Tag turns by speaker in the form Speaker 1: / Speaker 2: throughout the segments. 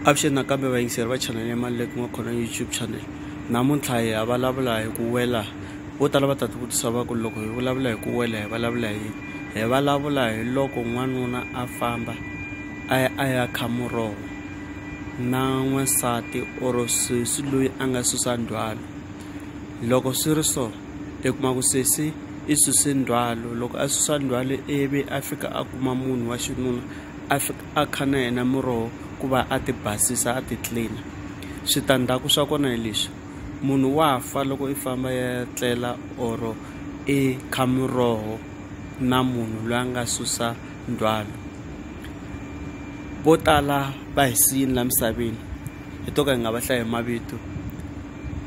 Speaker 1: avuxeni nakambe vayingiseri va chanele ya maluleki n'wa khona youtube channel namuntlha hi ya vulavula hi ku wela vo tala va ta ti vutisa va ku loko hi vulavula hi ku wela hi vulavula hi hi vulavula hi loko n'wanuna a famba a ya a ya kha muroho na n'wansati or sesi loyi a nga susa ndzhwalo loko swi ri so i kuma ku sesi i suse ndzhwalo loko a susa ndzhwalo ivi a fika a kuma munhu wa xinuna a fika a kha na yena muroho ku va a ti basisa a ti clean switandzhaku swa kona hi leswi munhu wa fa loko i famba ya tlela or i kha muroho na munhu loyi a nga susa ndzhwalo vo tala va hi siyini la misaveni hi to ka hi nga va hlayi hi mavito.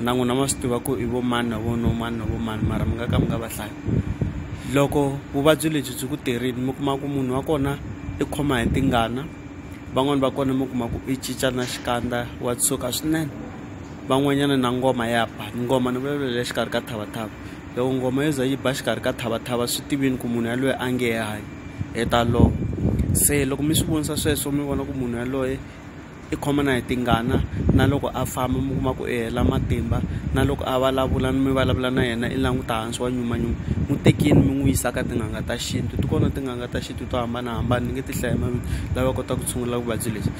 Speaker 1: na n'wina ma swi tiva ku i vo mani na vo no mani na vo mani mara mi nga ka mi nga va hlayi loko vuvabyi lebyi byi ku terini mi kuma ku munhu wa kona i khoma hi tingana van'wani va kona mi kuma ku i cinca na xikandza wa tshuka swinene van'wanyana na ngoma ya ba ngoma ni vulavula le xikarhi ka thavathava loko ngoma yo za yi ba xikarhi ka thavathava swi tivini ku munhu yaloye a nge hanyi hi ta lova se loko mi swi vonisa sweswo mi vona ku munhu yaloye I khoma na hi tingana na loko a famba mi kuma ku i hela matimba na loko a vulavula ni mi vulavula na yena i languta hansi wa nyumanyuma n'wi tekini mi n'wi yisa ka tin'anga ta xintu ti kona tin'anga ta xintu to hambanahambana ni nge ti hlaya mavito lava kotaka ku tshungula vuvabyi lebyi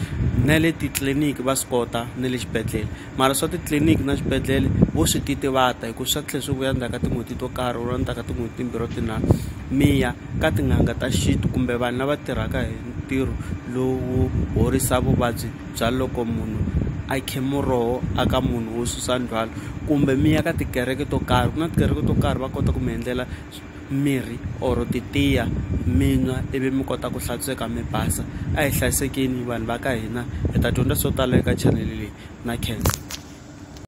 Speaker 1: na le titliliniki va swi kota na le xibedhlele mara swa titliliniki na xibedhlele vo swi titivata hikuva swa tlhela swi vuya ndzhaku ka tin'hweti to karhi or ndzhaku ka tin'hweti timbirhi or tinharhu mi ya ka tin'anga ta xintu kumbe vanhu lava tirhaka hi ntirho lowu horisa vuvabyi bya loko munhu a khe muroho a ka munhu wo susa ndzhwalo kumbe mi ya ka tikereke to karhi ku na tikereke to karhi va kota ku mi endlela mirhi or titiya mi nwa ivi mi kota ku hlantsweka mi basa a hi hlayisekeni vanhu va ka hina hi ta dyondza swo tala eka chanele leyi na khensa